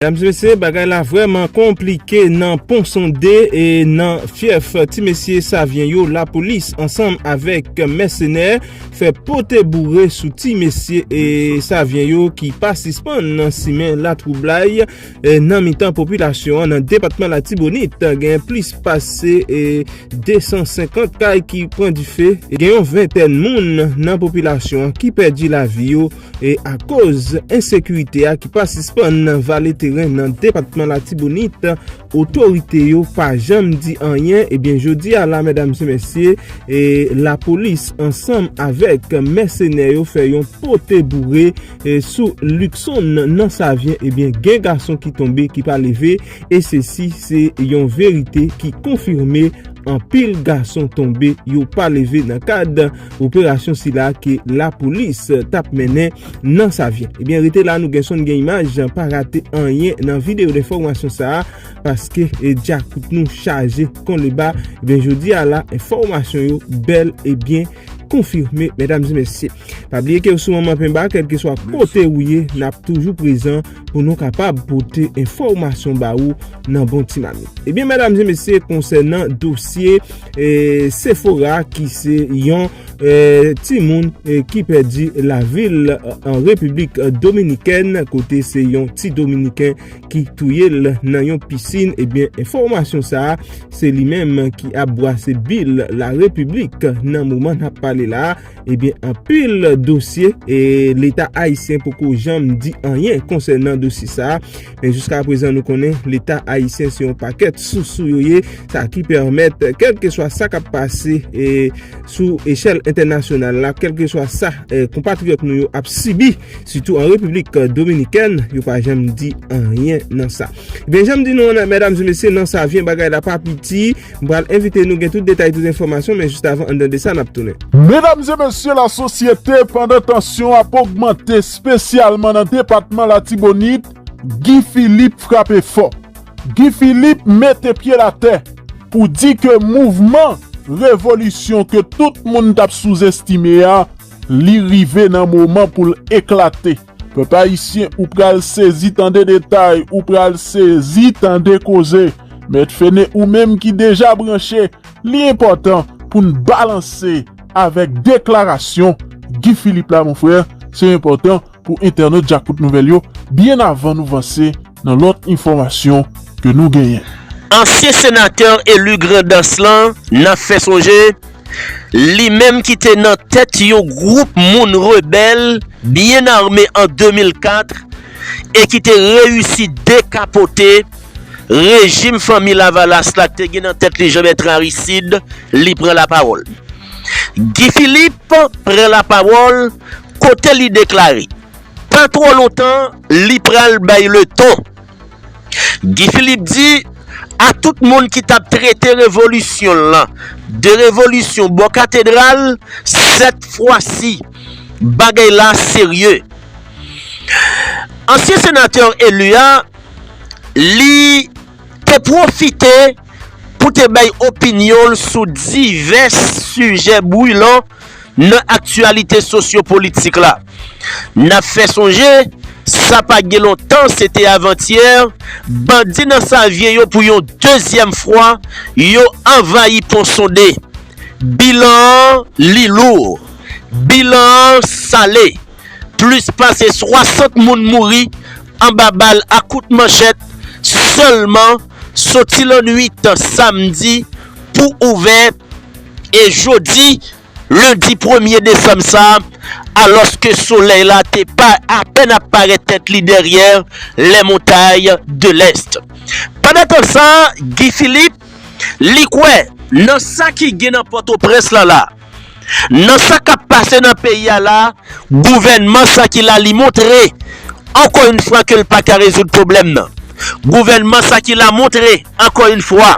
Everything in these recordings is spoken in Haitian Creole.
Medam se mesye bagay la vreman konplike nan pon sonde e nan fyèf ti mesye savyen yo lapolis ansanm avek mèsenè fè pote boure sou ti mesye e savyen yo ki pa sispann nan simen la twoublay nan mitan popilasyon an nan depatman latibonit gen plis pase 250 kay ki pran dife gen yon ventèn moun nan popilasyon an ki pèdi lavi yo E akoz ensekirite a ki pa sispann nan vale teren nan depatman Latibonit, otorite yo pa janm di anyen, ebyen jodi a la medam se mesye, lapolis ansanm avèk mèsenè yo fè yon pote boure sou Luckson nan Savyen, ebyen gen gason ki tonbe ki pa leve, e se si se yon verite ki konfime anpil gason tonbe yo pa leve nan kad. Operasyon sila ke lapolis tap mennen nan Savyen. Ebyen rete la nou gen son nou gen imaj pa rate anyen nan video denfòmasyon sa a paske dyakout nou chaje kon leba ebyen jodi a la enfòmasyon yo bèl ebyen konfime medam e mesye. Pa bliye kew sou manman penba kelkeswa kote ou ye nap toujou prezan. pou nou kapab pote enfòmasyon ba ou nan bon ti mamit. Ebyen eh mèdam zye mesye konsènan dosye eh, Sephora ki se yon eh, ti moun ki pèdi la vil an Republik Dominikèn kote se yon ti Dominiken ki touye l nan yon pisin ebyen eh enfòmasyon sa a se li menm ki ap bwase bil la Republik nan mouman ap pale la a. Ebyen anpil dosye e leta ayisyen poko janm di anyen konsènan dosye sa a. Men jiska prezan nou konnen leta ayisyen se yon pakèt sousou yo ye. Sa ki pèmèt kèlkeswa sa k ap pase sou echèl entènasyonal la, kèlkeswa sa konpatriyòt nou yo ap sibi sitou an Repiblik Dominikèn, yo pa janm di anyen nan sa. Ebyen janm di nou an mèdam e mesye nan sa vyen bagay la pa piti. M pral envite nou gen tout detay tout enfòmasyon men jis avan an dan de sa nap tounen. Medam e mesye la sosyete pandan tansyon ap ogmante spesyalman nan depatman latibonit Guy Philippe frape fò. Guy Philippe mete pyel atè pou di ke mouvman revolisyon ke tout moun tap souzestime a li rive nan moman poul eklate. Pèp ayisyen ou pral sezi tande detay ou pral sezi tande koze mèt fene ou menm ki deja branche li enpòtan poun balanse avèk deklarasyon Guy Philippe la mon frè se enpòtan pou entènot djakout nouvèl yo byen avan nou vanse Nan lòt enfòmasyon ke nou genyen. Ansyen senatè eli Grandans lan nan fè sonje, li menm ki te nan tèt yon gwoup moun rebèl byen ame an 2004 e ki te reyisi dekapote rejim Fanmi Lavalas la k te gen nan tèt li Jean-Bertrand Aristide, li pran lapawòl. Guy Philippe pran lapawòl kote li deklare. Pa twò lontan li pral bay le ton. Guy Philippe di a tout moun ki tap trete revolisyon l lan de revolisyon bò katedral sèt fwa si bagay la serye. Ansyen senatè elu a li te pwofite. pou te bay opinyon l sou divès sijè bwilan nan aktyalite sosyopolitik la. N ap fè sonje, sa pa gen lontan, se te avantyè, bandi nan Savyen yo pou yon dezyèm fwa, yo anvayi Pon Sonde. Bilan an li lou. Bilan an sale. Plis pase 60 moun mouri anba bal ak kout manchèt sèlman soti lannwit samdi pou ouvè e jodi lendi premye desanm sa a alòske solèy la te apèn ap parèt tèt li dèryè lè montay de lèst. Pandan tan sa Guy Philippe li kwè nan sa ki gen nan pòtoprens lan la. Nan sa kap pase nan peyi a la, gouvènman sa ki la li montre ankò yn fwa ke l pa ka rezoud pwoblèm nan. Gouvènman sa ki la montre ankò yn fwa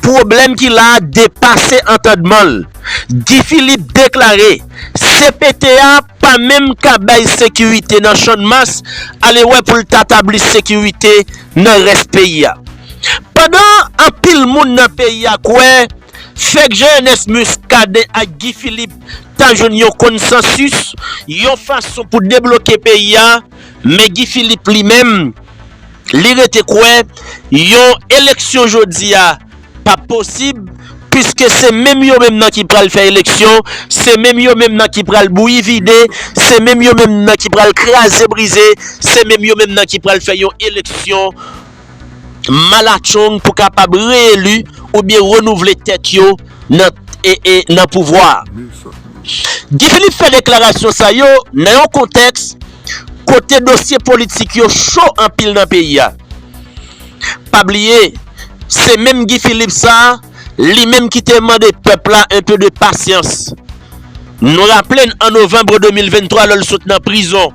pwoblèm ki la a depase antandman l. Guy Philippe deklare cpt a pa menm ka bay sekirite nan Channmas, alewè pou l ta tabli sekirite nan rès peyi a. Pandan anpil moun nan peyi a kwè Fèk Jean Ernest Muscadin ak Guy Philippe ta jwenn yon konsansis, yon fason pou debloke peyi a, men Guy Philippe li menm, li rete kwè yon eleksyon jodi a pa p posib, puiske se menm yo menm nan ki pral fè eleksyon, se menm yo menm nan ki pral bouyi vide, se menm yo menm nan ki pral kraze brize, se menm yo menm nan ki pral fè yon eleksyon. malatchong pou kapab reyeli oubyen renouvle tèt yo nan pouvwa a. Guy Philippe fè deklarasyon sa yo nan yon kontèks kote dosye politik yo cho anpil nan peyi a. Pa bliye, se menm Guy Philippe sa, li menm ki te mande pèp la un peu de patience. Nou raple n an Novembre 2023 lè l sot nan prizon,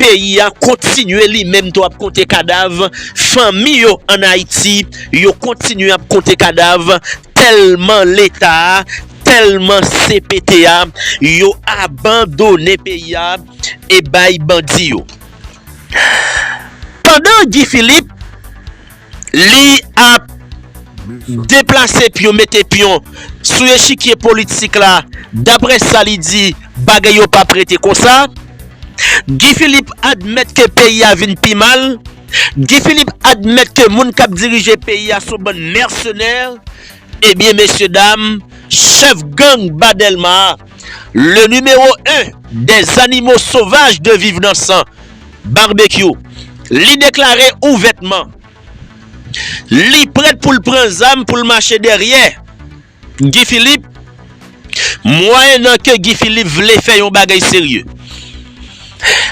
peyi a kontinye li menm tou ap konte kadav, fanmi yo an Ayiti yo kontinye ap konte kadav tèlman leta a, tèlman cpt a yo abandone peyi a e bay bandi yo. Pandan Guy Philippe. Li ap deplase pyon mete pyon sou echikye politik la daprè sa li di bagay yo pap rete konsa. Guy Philippe admèt ke peyi a vin pi mal. Guy Philippe admèt ke moun kap dirije peyi a son bann mèsenè. Ebyen mesye dam chèf gang ba Dèlma a le nimewo 1 dè zanimo sovaj de viv nan san. Barbecue. Li deklare ouvètman li prèt pou l pran zam pou l mache dèryè Guy Philippe mwayennan ke Guy Philippe vle fè yon bagay serye.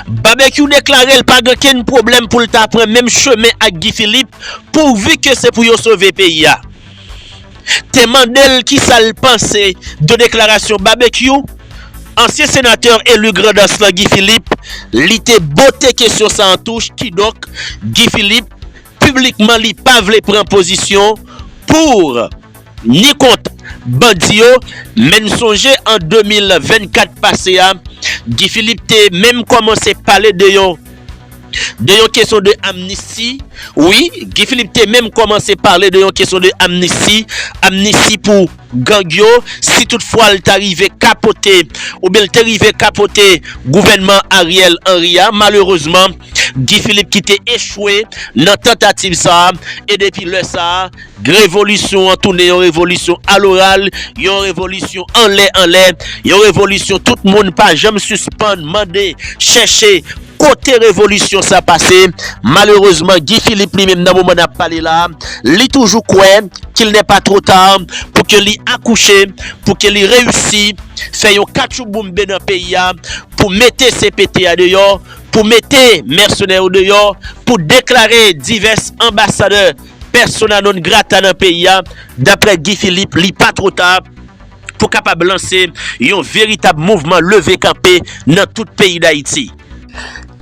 Barbecue deklare l pa gen kenn pwoblèm pou l ta pran menm chemen ak Guy Philippe pouvu ke se pou yo sove peyi a. te mande l kisa l panse de deklarasyon Babekyou, ansyen senatè eli Grandans lan Guy Philippe, li te bote kesyon sa an touch, kidonk Guy Philippe piblikman li pa vle pran pozisyon pour ni kont bandi yo, men n sonje an 2024 pase a Guy Philippe te menm kòmanse pale de yon. de yon kesyon de amnisti, wi Guy Philippe te menm kòmanse pale de yon kesyon de amnisti, amnisti pou gang yo, si tout fwa l ta rive kapote oubyen l te rive kapote gouvènman Ariel Henry a, malerezman Guy Philippe ki te echwe nan tantativ sa a, e depi lè sa a revolisyon an tounen yon revolisyon a loral, yon revolisyon anlè anlè, yon revolisyon tout moun pa janm sispann mande, chèche. Kote revolisyon sa pase? Malerezman Guy Philippe li menm nan moman nap pale la li toujou kwè kil nè pa two ta pou ke li akouche pou ke li reyisi fè yon katchouboumbe nan peyi a pou mete CPT a deyò pou mete mèsenè yo deyò pou deklare divès anbasadè persona non grata nan peyi a daprè Guy Philippe li pa two ta pou kapab lanse yon veritab mouvman leve kanpe nan tout peyi Dayiti.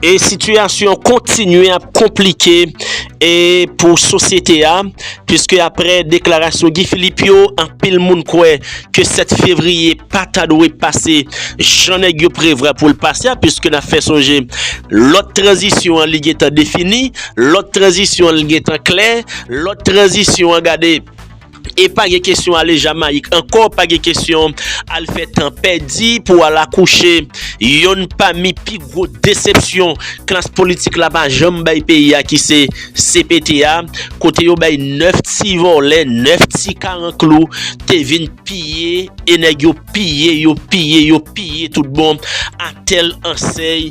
E sitiyasyon kontinye ap konplike e pou sosyete a, piske apre deklarasyon Guy Philippe yo, anpil moun kwè ke 7 fevriye pa ta dwe pase jan nèg yo prevwa pou l pase a, piske n ap fè sonje lòt tranzisyon an li gentan defini, lòt tranzisyon an li gentan klè, lòt tranzisyon an gade. E pa gen kesyon ale Jamayik ankò, pa gen kesyon al fè tan pèdi pou al akouche yonn pami pi gwo desepsyon klas politik la pa janm bay peyi a ki se cpt a, kote yo bay 9 ti vòlè, 9 ti karanklou te vin piye e nèg yo piye yo, piye yo, piye tout bon, atèl, ansèy.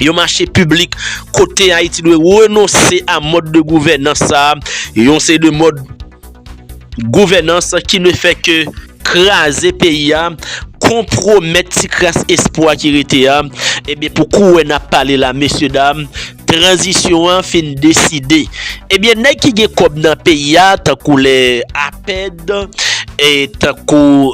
Yon mache piblik kote Ayiti dwe renonse a mòd de gouvènans sa, yon seri de mòd gouvènans ki ne fè ke kraze peyi a, konpwomèt ti kras espwa ki rete a, ebyen pou kouwè n ap pale la mesye dam, tranzisyon an fin deside. Ebyen nèg ki gen kòb nan peyi a tankou lè Apèd, tankou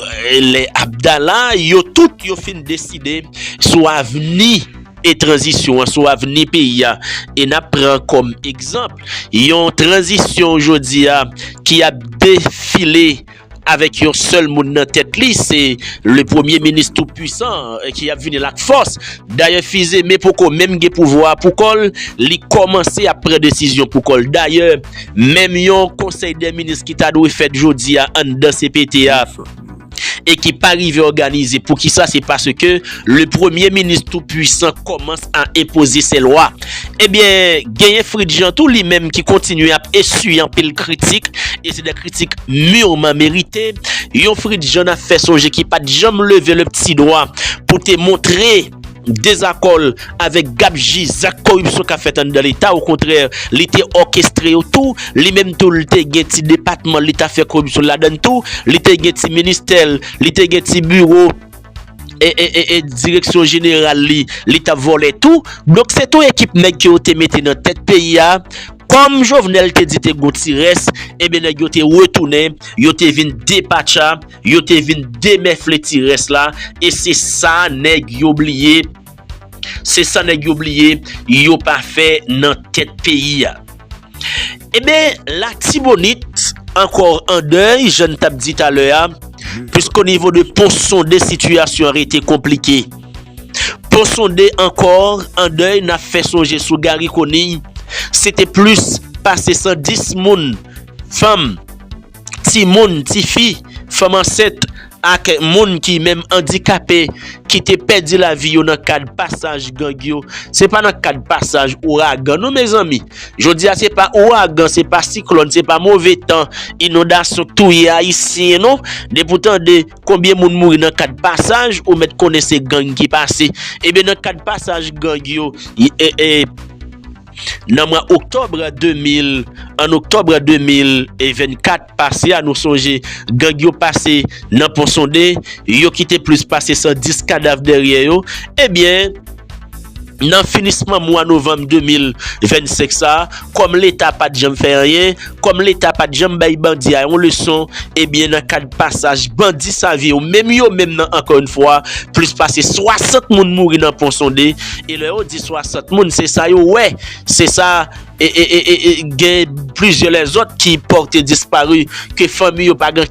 lè Abdala, yo tout yo fin deside. sou avni e tranzisyon an, sou avni peyi a. E n ap pran kòm egzanp yon tranzisyon jodi a ki ap defile avèk yon sèl moun nan tèt li, se le premye minis tou pwisan an ki ap vini la ak fòs. Dayè Fizeme poko menm gen pouvwa a pou kò l, li kòmanse ap pran desizyon pou kò l. Dayè, menm yon konsèy dè minis ki ta dwe fèt jodi a anndan cpt a, e ki pa rive òganize pou kisa se paske le premye minis tou pwisan kòmans a enpoze se lwa ebyen genyen Fritz Jean tou li menm ki kontinye ap eswiye anpil kritik e se de kritik murman merite yon Fritz Jean na fè sonje ki pat janm leve le pti dwa pou te montre dezakò l avèk gapji zak koripsyon k ap fèt anndan leta okontrè li te òkestre yo tou li menm tou li te gen ti depatman l li t ap fè koripsyon l ladann tou li te gen ti ministè l li te gen ti biwo eeee direksyon jeneral li li t ap vòlè tou donk se tou ekip nèg ke yo te mete nan tèt peyi a kòm jovenel te di te gon ti rès enben nèg yo te retounen yo te vin depatcha Yo te vin demèfle ti rès la e se sa nèg yo bliye se sa nèg yo bliye yo pa fè nan tèt peyi a. Eben Latibonit ankò an dèy jan n t ap di talè a piske o nivo de Pon Sonde sitiyasyon an rete konplike. Pon Sonde ankò an dèy n ap fè sonje sou Gari Koniy se te plis pase 110 moun, fanm, timoun, tifi, fanm ansent ak moun ki menm andikape ki te pèdi lavi yo nan kad pasaj gang yo, se pa nan kad pasaj ouragan non mezanmi. Jodi a se pa ouragan, se pa siklòn, se pa move tan, inondasyon k touye ayisyen non. Depi w tande konbyen moun mouri nan kad pasaj ou mèt konnen se gang ki pase. Ebyen nan kad pasaj gang yo, nan mwa oktòb 2000 an oktòb 2024 pase a nou sonje gang yo pase nan pon sonde yo kite plis pase 110 kadav dèryè yo ebyen nan finisman mwa novanm 2025 sa kòm leta pat janm fè anyen Kòm leta pat janm bay bandi a yon leson, ebyen nan kad pasaj bandi save yo menm yo menm nan ankò yn fwa, plis pase 60 moun mouri nan pon sonde, e lè yo di 60 moun se sa yo wè, se sa e e e e gen plizyè lèzòt ki pòte disparu ke fanmi yo pa gen.